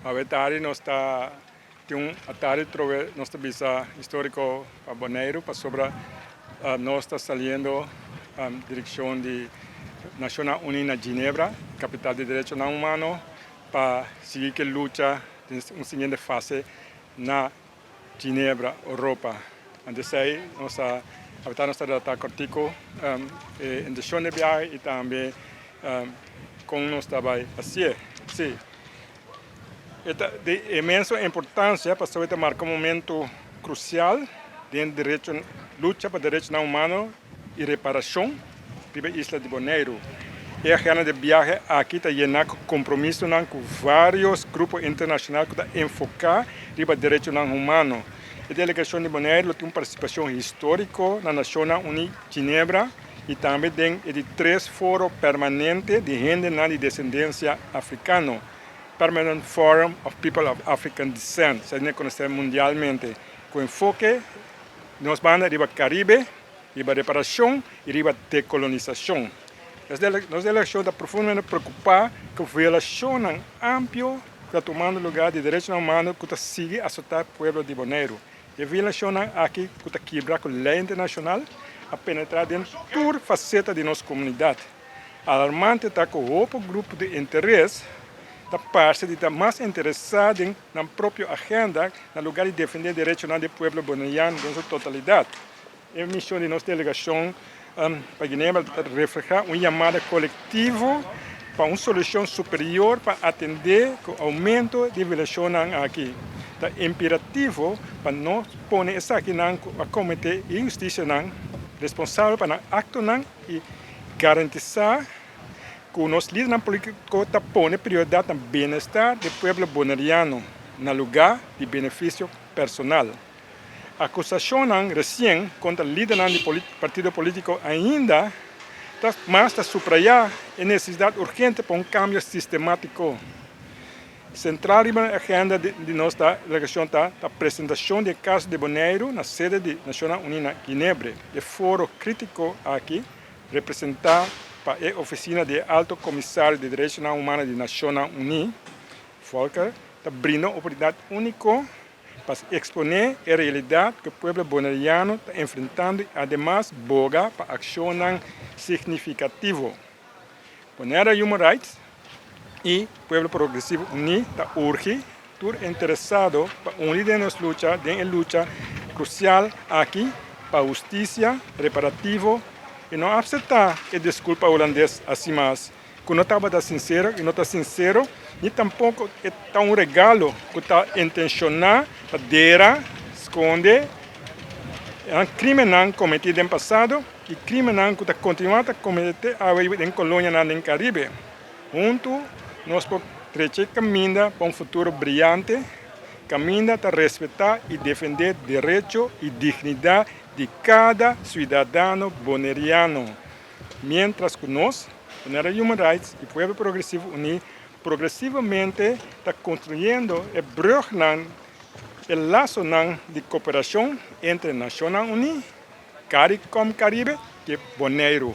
Awe tardi nos ta tin un atardi troe nos ta bisa historico pa Boneiru pasobra nos ta saliendo direccion di Nacionnan Uni na Ginebra, capital di derechonan humano, pa sigui ki lucha den un siguiente fase na. Ginebra, Europa. Ante esei nos a apretá nos ta redactá kòrtiku e inteshon di e biahe i tambe kon nos ta bai hasié. Sí, e ta di inmenso importansia pasobra e ta marka un momentu krusial den derecho lucha pa derechonan humano. i reparashon riba isla di Boneiru. E agenda di biahe aki ta yená ku kompromisonan ku vários grupo internashonal ku ta enfoká riba derechonan humano. E delegashon di Boneiru lo tin un partisipashon históriko na Nashonnan Uní Ginebra i tambe den e di tres Foro Permanente di Hendenan di Desendensia Afrikano, Permanent Forum of People of African Descent, sa ta konosé mundialmente, ku enfoke. Nos banda riba Caribe, riba reparacion y riba decolonisacion. Nos delegacion ta profundamente preocupa cu violacionnan ampio ta tumando lugar di derechonan humano cu ta sigui azota pueblo di Boneiru. E violacionnan aki cu ta kibra cu ley internacional a penetra den tur faceta di nos comunidad. Alarmante ta cu hopi grupo di interes ta parce di ta mas interesa den nan propio agenda na lugar di defende derechonan di e pueblo Boneyan den su totalidad. E mision di nos delegacion pa Ginebra ta refleha un yamada colectivo pa un solucion superior pa atende cu aumento di violacionnan aki. Ta imperativo pa nos pone esakinan cu a comete injusticianan responsabel pa nan actonan y garantisa. Ku nos lidernan politiko ta pone prioridat na bienestar di pueblo boneriano na lugá di benefisio personal. Akusashonnan resien kontra lidernan di partido politiko ainda ta mas ta suprayá e nesesidat urgente pa un kambio sistematiko. Sentral riba e agenda di nos delegashon ta ta presentashon di e kaso di Boneiru na sede di Nashonnan Uní na Ginebre. E foro kritiko aki Representá pa e ofisina di e Alto Comisario di Derechonan Humano di Nacionnan Uní, Volker, ta brinda un oportunidat único pa exponé e realidad cu e pueblo Boneriano ta enfrentando y ademas boga pa accionnan significativo. Moneda Human Rights y Pueblo Progresivo Uní ta urgi tur interesado pa uni den nos lucha den e lucha crucial aki pa husticia reparativo y no apseta e disculpa Hulandes asi mas cu no tabata sincero y no ta sincero ni tampoco e ta un regalo cu ta intenciona pa dera sconde crimennan cometi den pasado. E krimennan ku ta kontinuá ta kometé te awe riba den kolonianan den Karibe. Huntu nos por trech'é kaminda pa un futuro briante kaminda ta respetá i defendé derecho i dignidat di kada siudadano boneriano, miéntras ku nos, Bonera Human Rights i Pueblo Progresivo Uní, progresivamente ta konstruyendo e brùgnan, e lasonan di koperashon entre Nashonnan Uní Caricom Caribe, ke Boneiru.